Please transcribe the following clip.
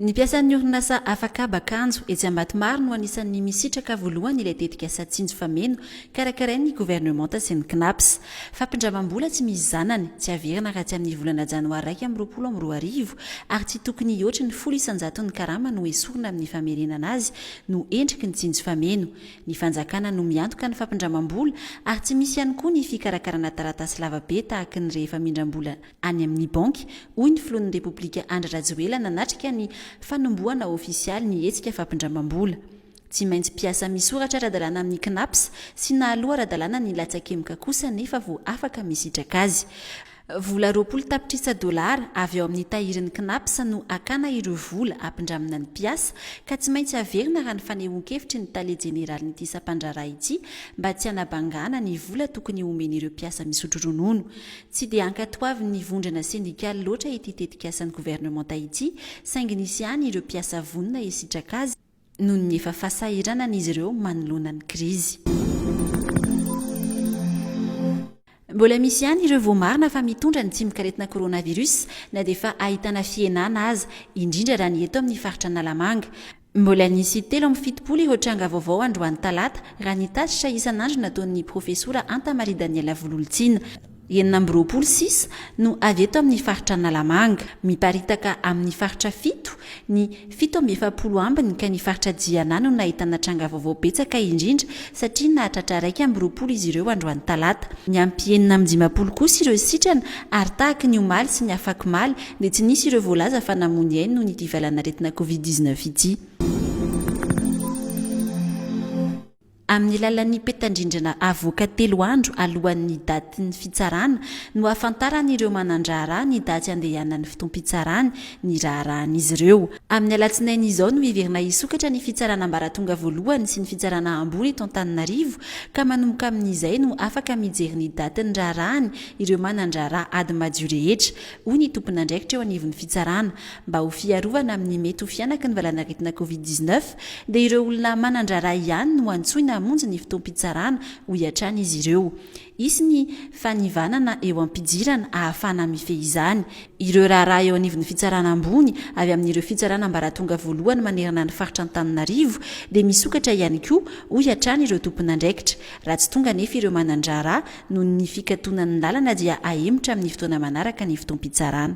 Ny mpiasan'ny orinasa Afakaba Kanjo etsy Ambatomaro no anisan'ny misitraka voalohany ilay tetikasa Tsinjo fa Meno karakarain'ny governemanta sy ny Cnaps. Fampindramam-bola tsy misy zanany, tsy averina raha tsy amin'ny volana janoary iraika amby roapolo amby roa arivo ary tsy tokony hihoatry ny folo isan-jaton'ny karama no esorina amin'ny famerenana azy no endriky ny Tsinjo fa Meno. Ny fanjakana no miantoka ny fampindramam-bola ary tsy misy ihany koa ny fikarakarana taratasy lavabe tahaka ny rehefa mindram-bola any amin'ny banky, hoy ny filohan'ny Repoblika Andry Rajoela nanatrika ny fanombohana ofisialy ny hetsika fampindramam-bola. Tsy maintsy mpiasa misoratra ara-dalàna amin'ny Cnaps sy nahaloa ara-dalàna ny latsakemboka kosa nefa vao afaka misitraka azy. Vola roapolo tapitrisa dolara avy ao amin'ny tahirin'ny Cnaps no hakana ireo vola hampindramina ny mpiasa ka tsy maintsy haverina raha ny fanehoan-kevitry ny tale jeneralin'ity sampandraharaha ity mba tsy hanabangana ny vola tokony homen'ireo mpiasa misotro ronono. Tsy dia ankatoavin'ny vondrona sendikaly loatra ity tetikasan'ny governemanta ity saingy nisy ihany ireo mpiasa vonona hisitraka azy noho ny efa fahasahiranana izy ireo manoloana ny krizy. Mbola misy ihany ireo voamarina fa mitondra ny tsimok'aretina coronavirus na dia efa ahitana fihenana aza, indrindra raha ny eto amin'ny faritra Analamanga. Mbola nisy telo amby fitopolo ireo tranga vaovao androany talata, raha ny tatitra isan'andro nataon'ny profesora Anta Marie Daniela Vololontsina. Enina amby roapolo sisa no avy eto amin'ny faritra Analamanga. Miparitaka amin'ny faritra fito, ny fito amby efapolo ambiny ka ny faritra Jiana no nahitana tranga vaovao betsaka indrindra satria nahatratra iraika amby roapolo izy ireo androany talata. Niampy enina amby dimampolo kosa ireo sitrana ary tahaky ny omaly sy ny afakomaly dia tsy nisy ireo voalaza fa namoa ny ainy noho ny ity valan'aretina covid dix-neuf ity. Amin'ny lalan'ny petadrindrina avoaka telo andro alohan'ny datin'ny fitsarana no hahafantaran'ireo manan-draharaha ny daty handehanan'ny fotoam-pitsarany ny raharahan'izy ireo. Amin'ny alatsinainy izao no heverina hisokatra ny fitsarana ambaratonga voalohany sy ny fitsarana ambony eto Antananarivo ka manomboka amin'izay no afaka mijery ny datin'ny raharahany ireo manan-draharaha ady madio rehetra hoy ny tomponandraikitra eo anivon'ny fitsarana. Mba ho fiarovana amin'ny mety ho fihanaky ny valanaretina covid dix-neuf dia ireo olona manan-draharaha ihany no antsoina hamonjy ny fotoam-pitsarana, hoy hatrany izy ireo. Hisy ny fanivanana eo am-pidirana hahafahana mifehy izany ireo raharaha eo anivon'ny fitsarana ambony avy amin'ireo fitsarana ambaratonga voalohany manerana ny faritra Antananarivo dia misokatra ihany koa, hoy hatrany ireo tomponandraikitra. Raha tsy tonga anefa ireo manan-draharaha Noho ny fikatonan'ny lalana dia hahemotra amin'ny fotoana manaraka ny fotoam-pitsarana.